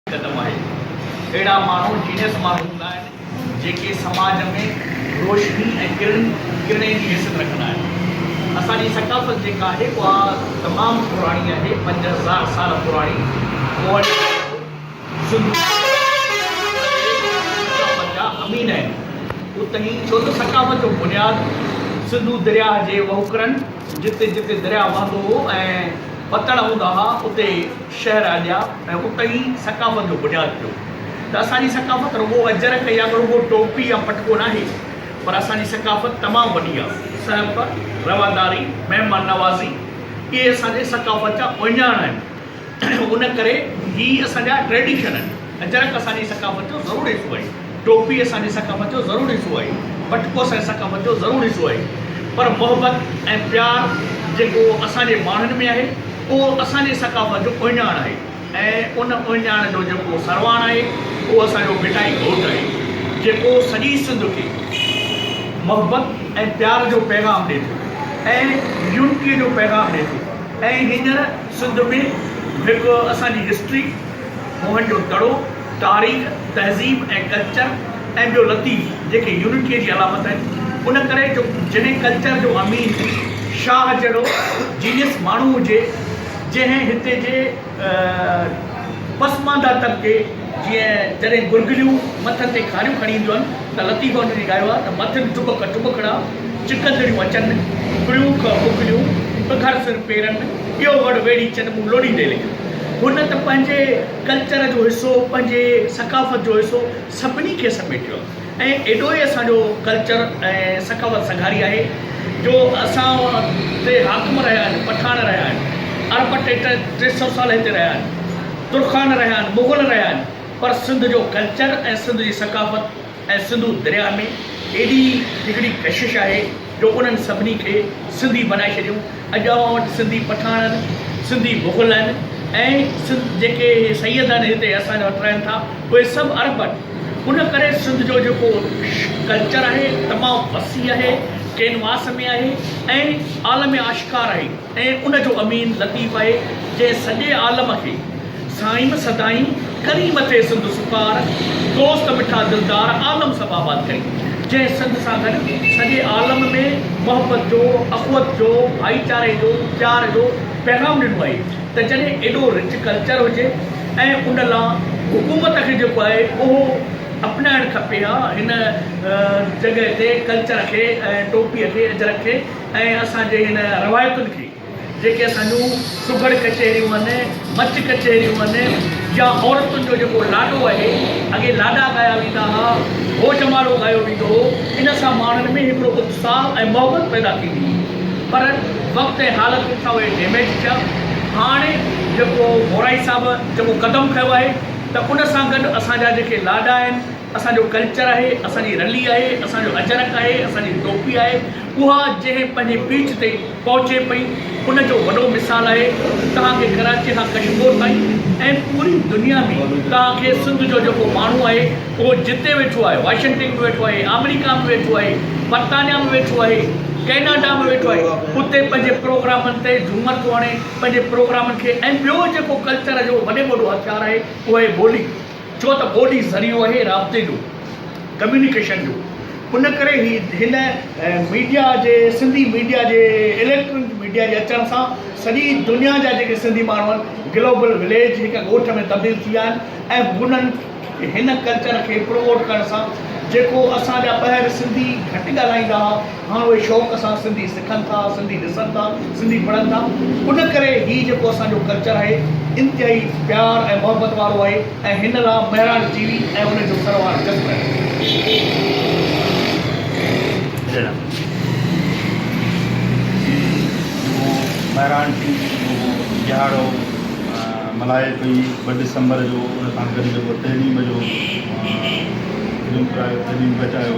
قدم آهي. اهڙا ماڻهو جينيس ماڻهو هوندا آهن، جيڪي سماج ۾ روشني ۽ ڪرڻ ڪرڻي جي حيثيت رکندا آهن. اسان جي ثقافت جيڪا آهي اها تمام پراڻي آهي، پنج هزار سال پراڻي ڪوهڙي ڪنڊو سنڌو درياهه جي ثقافت جا امين آهن. اتي ئي ڇو ته ثقافت جو بنياد سنڌو درياهه جي وهڪرن جتي جتي درياهه وهندو هو ۽ وتڙ هوندا ها اتي شهر آڏيا ۽ اتي ئي ثقافت جو بنياد پيو ته اسان جي ثقافت رڳو اجرڪ يا رڳو ٽوپي يا پٽڪو ناهي پر اسان جي ثقافت تمام وڏي آ سهپ، رواداري، مهمان نوازي اهي اسان جي ثقافت جا اهڃاڻ آهن ان ڪري هي اسان جا ٽريڊيشن آهن اجرڪ اسان جي ثقافت جو ضروري حصو آهي. ٽوپي اسان جي ثقافت جو ضرور حصو آهي، پٽڪو اسان جي ثقافت جو ضرور حصو آهي پر محبت ۽ پيار جيڪو اسان جي ماڻهن ۾ آهي اهو اسان جي ثقافت جو اهڃاڻ آهي ۽ ان اهڃاڻ جو جيڪو سرواڻ آهي اهو اسان جو ڀٽائي گهوٽ آهي جيڪو سڄي سنڌ کي محبت ۽ پيار جو پيغام ڏي ٿو ۽ يونٽي جو پيغام ڏي ٿو ۽ هينئر سنڌ ۾ هڪ اسان جي هسٽري موهن جو دڙو. تاريخ، تهذيب ۽ ڪلچر ۽ ٻيو لطيف جيڪي يونٽيء جي علامت آهن ان ڪري جو جنهن ڪلچر جو امين شاهه جهڙو جينيس ماڻهو هجي جنهن هتي جي پسمانده طبقي جيئن جڏهن گرگليون مٿن تي کاريون کڻي اينديون آهن ته لطيف ان جي ڳايو آهي ته مٿن ٽٻڪ ٽٻڪڙا چڪندڙيون اچن ڪڙيون ڪه ڪڪليون پکر سر پيرن ٻيو وڙ ويڙهي چن مون لوڏيندي لڳيون هن ته پنهنجي ڪلچر جو حصو پنهنجي ثقافت جو حصو سڀني کي سميٽيو آهي ۽ ايڏو ئي اسان جو ڪلچر ۽ ثقافت سگهاري آهي جو اسان تي حاڪم رهيا آهن پٺاڻ رهيا آهن ارب ٽي ٽي ٽي سئو سال هتي رهيا آهن ترخان رهيا آهن مغل رهيا آهن پر سنڌ جو ڪلچر ۽ سنڌ جي ثقافت ۽ سنڌو درياهه ۾ ايڏي هڪڙي ڪشش آهي جو انهن سڀني کي سنڌي بنائي ڇڏيو. اڄ اوهان وٽ سنڌي پٺاڻن، سنڌي مغلن ۽ سنڌ جيڪي اهي سيد آهن هتي اسان وٽ رهن ٿا اهي سڀ عرب آهن. ان ڪري سنڌ جو جيڪو ڪلچر آهي تمام وسيع آهي، ڪينواس ۾ آهي ۽ عالم آشڪار آهي. ۽ ان جو امين لطيف آهي جنهن سڄي عالم کي سائين سدائين ڪريم ٿئي سنڌ سپار دوست مٺا دلدار عالم سڀ آباد ڪري جنهن سنڌ سان گڏ سڄي عالم ۾ محبت جو اخوت جو ڀائيچاري جو پيار جو پيغام ڏنو آهي ته جڏهن ايڏو رچ ڪلچر هجي ۽ ان لا حڪومت کي جيڪو آهي اهو اپنائڻ کپي ها هن جڳهه تي ڪلچر کي ٽوپي کي اجرڪ کي ۽ اسان جي هن روايتن کي جيڪي اسان جون سگهڙ ڪچهريون هن، مچ ڪچهريون هن يا عورتن جو جيڪو لاڏو آهي، اڳي لاڏا ڳايا ويندا ها، هو جماڙو ڳايو ويندو هو، ان سان ماڻهن ۾ هڪڙو اتساهه ۽ محبت پيدا ٿيندي هئي پر وقت ۽ حالتن سان اهي ڊيميج ٿيا. هاڻ جيڪو مورائي صاحب جيڪو قدم کنيو آهي ته ان سان گڏ اسان جا جيڪي لاڏا آهن، اسان جو ڪلچر آهي، اسان جي رلي آهي، اسان جو اجرڪ آهي، اسان جي ٽوپي آهي، اها جنهن پنهنجي پيچ تي پهچي پئي، ان جو وڏو مثال آهي. توهان کي ڪراچي کان ڪشمور تائين ۽ پوري دنيا ۾ توهان کي سنڌ جو جيڪو ماڻهو آهي، اهو جتي ويٺو آهي، واشنگٽن ۾ ويٺو آهي، آمريڪا ۾ ويٺو آهي، برطانيا ۾ ويٺو آهي، ڪئناڊا ۾ ويٺو آهي، اتي پنهنجي پروگرامن تي جهومر ٿو هڻي، پنهنجي پروگرامن کي ۽ ٻيو جيڪو ڪلچر جو وڏي ۾ وڏو هٿيار آهي، اهو آهي ٻولي. ڇو ته ٻولي ذريعو اهي رابطي جو، ڪميونيڪيشن جو، ان ڪري هي هن ميڊيا جي سنڌي ميڊيا جي اليڪٽرنڪ ميڊيا جي اچڻ سان سڄي دنيا جا جيڪي سنڌي ماڻهو آهن گلوبل وليج هڪ ڳوٺ ۾ تبديل ٿي ويا آهن ۽ هنن هن ڪلچر کي پروموٽ ڪرڻ سان جيڪو اسان جا ٻاهر سنڌي گهٽ ڳالهائيندا هئا هاڻ اهي شوق سان سنڌي سکن ٿا، سنڌي ڏسن ٿا، سنڌي پڙهن ٿا. ان ڪري هي جيڪو اسان جو ڪلچر آهي انتهائي پيار ۽ محبت وارو آهي ۽ هن لا مهراڻ ٽي وي ۽ ان جو سروار جسم ڏيڻ. جيڪو مهراڻ ٽي وي جو ڏهاڙو ملهائي پئي ٻه ڊسمبر جو ان کان گڏ جيڪو تحريم جو فلم ڪرايو تحريم بچايو.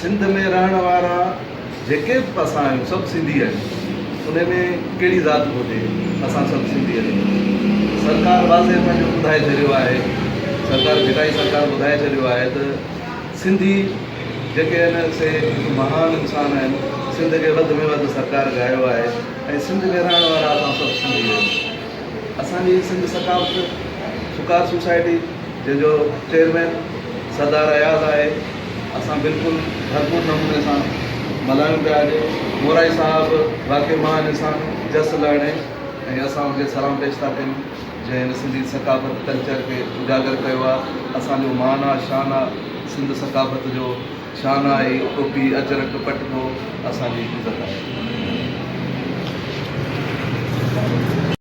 سنڌ ۾ رهڻ وارا جيڪي به اسان آهيون سڀ سنڌي آهيون انهي ۾ ڪهڙي ذات به هجي اسان سڀ سنڌي آهيون سرڪار واضح پنهنجو ٻڌائي ڇڏيو آهي سرڪار ڀٽائي سرڪار ٻڌائي ڇڏيو آهي ته سنڌي جيڪي آهن سي هڪ مهان انسان آهن سنڌ کي وڌ ۾ وڌ سرڪار ڳايو آهي ۽ سنڌ ۾ رهڻ وارا اسان سڀ سنڌي آهيون اسان جي سنڌ ثقافت سڪار سوسائٽي جنهن جو چيئرمين سردار اياز آهي اسان بلڪل ڀرپور نموني سان ملهايون پيا اڄ مورائي صاحب واقعي مهان انسان جس لهڻي ۽ اسان ان کي سلام پيش ٿا ڪيون جنهن هن سنڌي ثقافت ڪلچر کي اجاگر ڪيو آ اسان جو مان آ شان آ سنڌ ثقافت جو شان آ هي ٽوپي اجرڪ پٽڪو اسان جي عزت آهي.